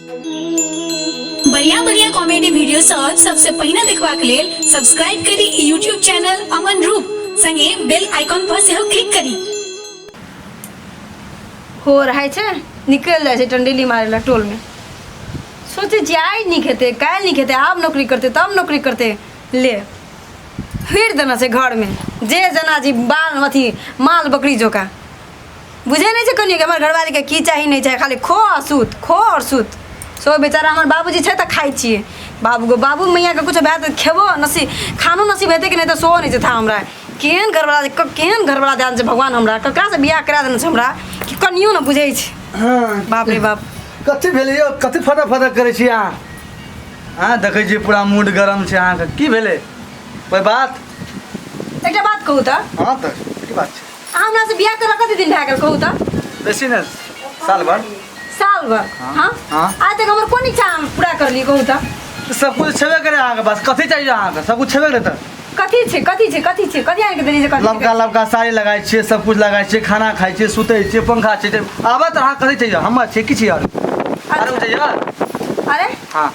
बढ़िया बढ़िया comedy video सब सबसे पहिने देखबाक लेल सब्सक्राइब करी ई यूट्यूब चैनल अमन रूप संगे बेल आइकॉन पर सेहो क्लिक करी हो रहै छै निकलि जाइ छै टंडेली मारै लए टोलमे सोचे जाइ नीक हेतै काल्हि नीक हेतै आब नौकरी करतै तब नौकरी करतै ले फिर देना छै घरमे जे जेना जी बाल अथी माल बकरी जोका बुझे नहीं छे कनिया के हमर घरवाली के की चाही नहीं चाही खाली खो और सुत खो और सुत सो बेचारा हमर बाबूजी छे त खाई छिए बाबू को बाबू मैया के कुछ बात खेबो नसी खानो नसीब हेते कि नहीं तो सो नहीं छे था हमरा केहन घरवाला क- केहन घरवाला ध्यान से भगवान हमरा ककरा से बियाह करा देने छे हमरा कि कनियो न बुझे छे हाँ बाप रे बाप कथी भेलै यौ कथी फटक फटक करै छी अहाँ अहाँ देखै छी पूरा मूड गरम छै अहाँके की भेलै कोइ बात एकटा बात कहू त हँ तऽ की बात छै अहाँ हमरा से बियाह करा कते दिन भए गेल कहू तऽ बेसी ने साल भर साल भर हाँ। हाँ हाँ। आज तक हमर कोन इच्छा हम पूरा कर ली कहू तऽ तऽ सब कुछ छेबे करे अहाँके पास कथी चाहिए अहाँके सब कुछ छेबे करे तऽ कथी छै कथी छै कथी छै कथी आनि के देली जे कथी छै? लबका लबका साड़ी लगाइ छियै सब कुछ लगाइ छियै खाना खाइ छियै सुतै छियै पंखा छै आबत अहाँ कथी चाहिए हमर छै किछु आओर आरो चाहिए अरे हाँ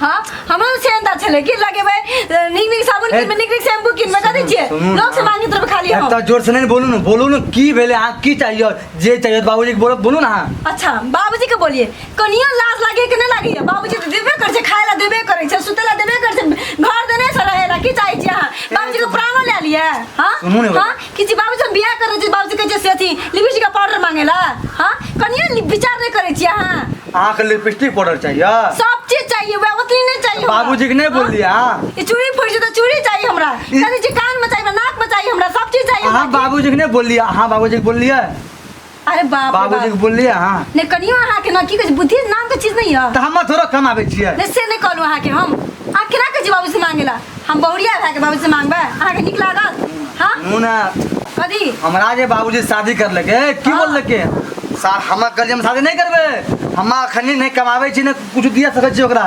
हाँ हमरो से अंदा छले कि लगेबे निक निक साबुन ए- किनबे निक निक शैम्पू किनबे कर दै छियै सुनू लोग से ना। मांगी तरफ खाली हम एकटा जोर से नहीं बोलू ना बोलू ना की भेले अहाँ की चाहिए जे चाहिए बाबूजी के बोलो बोलू ना अहाँ अच्छा बाबूजी के बोलिए कनियो लाज लागे के नहीं लागे बाबूजी तो देबे करे छै खाय ला देबे करे छै सुते ला देबे करे छै घर देने से रहे ला की चाहे छी अहाँ बाबूजी के प्राणो ले लिए हाँ सुनू ने हाँ कि जी बाबूजी हम बियाह कर रहे छी बाबूजी कहै छै से अथी लिपस्टिक का पाउडर मांगेला हां कनिया नि- विचार नहीं करे छी अहाँ अहाँ के लिपस्टिक पाउडर चाहिए सब चीज चाहिए वह उतनी नहीं चाहिए हमरा। बाबूजी के नहीं बोल दिया ई चूड़ी फूट जेतै चूड़ी चाहिए हमरा ई- कनी जी कान में चाहिए हमरा, नाक में चाहिए हमरा सब चीज चाहिए अहाँ हमरा। बाबूजी के नहीं बोल दिया अहाँ बाबूजी के बोल दिया अरे बाप रे बाबूजी के बाप बोललिए अहाँ ने कनियो अहाँ के ना की कहै बुद्धि नाम के चीज नहीं है तऽ हम थोड़ा कमाबै छियै ने से नहीं कहलू अहाँ के हम अहाँ केना कहै छी बाबू से मांगेला हम बहुरिया भए के बाबू से मांगबै अहाँ के नीक लागत हाँ मुना कथी हमरा जे बाबूजी शादी करलकै की हाँ। बोललकै सार हमरा कहलियै हम शादी नहि करबै हम अखनी नहि कमाबै छी ने कुछ दिया सकै छी ओकरा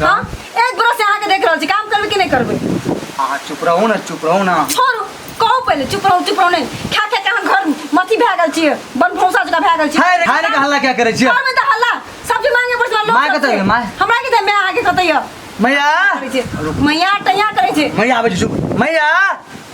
का? हाँ? एक बरस से अहाँ के देख रहल छी काम करबे कि नहीं करबे अहाँ चुप रहू ने चुप रहू ना छोड़ू कहू पहले चुप रहू चुप रहू नहीं खा खा के अहाँ घर मथी भए गेल छियै बन भौसा जगह भए गेल छियै हाय रे हाय रे के हल्ला क्या करै छियै घर में तऽ हल्ला सब्जी मांगे पर लोग माय सब कतऽ छै। यऽ, माय? हमरा के दे मैं अहाँ के कतै यऽ मैया करै छै मैया टैया करै छै मैया आबै छै चुप मैया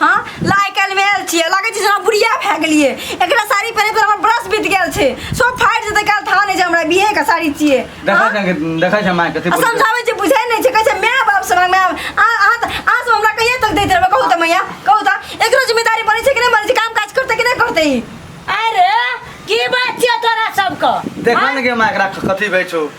हाँ लाइ काल्हि भेल छियै लगै छै जेना बुढ़िया भए गेलियै एकरा साड़ी पहिरे पर हमर ब्रश बीत गेल छै सब फाटि जेतै काल्हि था नहि छै हमरा बिहे के साड़ी छियै देखै हाँ? छै देखै छै माय कथी आ बोलै छै समझाबै छै बुझै नहि छै कहै छै माय बाप से माय आ अहाँ तऽ अहाँ सब हमरा कहिया तक दैत रहबै कहू तऽ मैया कहू तऽ एकरो जिम्मेदारी बनै छै कि नहि बनै छै काम काज करतै कि नहि करतै ई अरे की बात छियै तोरा सबके देखै ने गे माय एकरा कथी भए छौ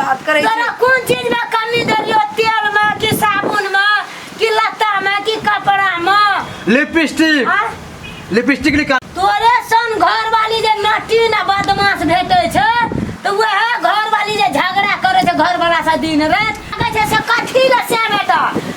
बात करे तोरा कोन चीज में कमी देलियो तेल में कि साबुन में कि लत्ता में कि कपड़ा में लिपस्टिक आ? लिपस्टिक निकाल तोरे सन घर वाली जे नटी ना बदमाश भेटे छै तो वह घर वाली जे झगड़ा करे छै घर वाला से दिन रात लगे छै से कथी ले से बेटा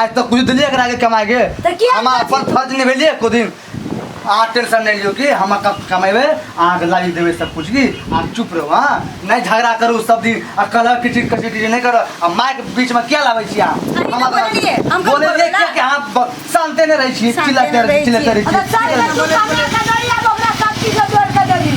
आज तक कुछ दिलिए एकरा के कमाए के तऽ किया हम कथी- अपन फर्ज निभेलिए एको दिन अहाँ टेंशन नहीं लियो कि हम कब कमेबे अहाँ के लाइव देबे सब कुछ की आप चुप रहो हाँ नहीं झगड़ा करू सब दिन आ कलह किचिर किचिर किचिर नहीं करो आ माइक बीच में क्या लाबै छी अहाँ अरे हम तऽ बोललियै, हम कब बोले बोललियै? क्या कि अहाँ ब- शांते नहीं रहै छी शांते चिल्लाते नहि रहै रहै छी। चिल्लाते रहै छी अरे चल, तू कमे के दौड़िया, ओकरा सब चीज जोड़ के देबही।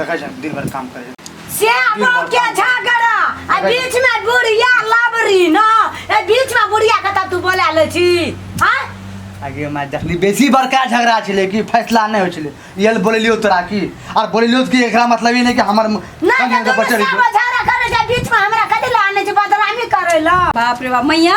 देखै छै दिन भर काम करै से अपन के झगड़ा आ बीच में बुढ़िया लबरी ना ए बीच में बुढ़िया के तब तू बोला ले छी हां आगे मैं देखली बेसी बड़का झगड़ा छले कि फैसला नहीं हो छले ये बोललियो तोरा की और बोललियो कि एकरा मतलब ये नहीं कि हमर ना कन्या के तो बचल सब झगड़ा करे के बीच में हमरा कदे लाने छी बदनामी करे ला बाप रे बाप मैया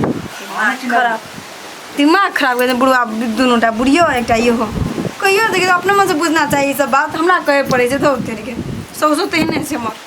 दिमाग खराब दिमाग खराब कर बुढ़वा दुनूटा बुढ़ियो एकटा इहो कहियो देखिए तो अपने मन से बुझना चाहिए सब बात हमरा कहे पड़े छै तो उतर के सौसो तेहने छै हमर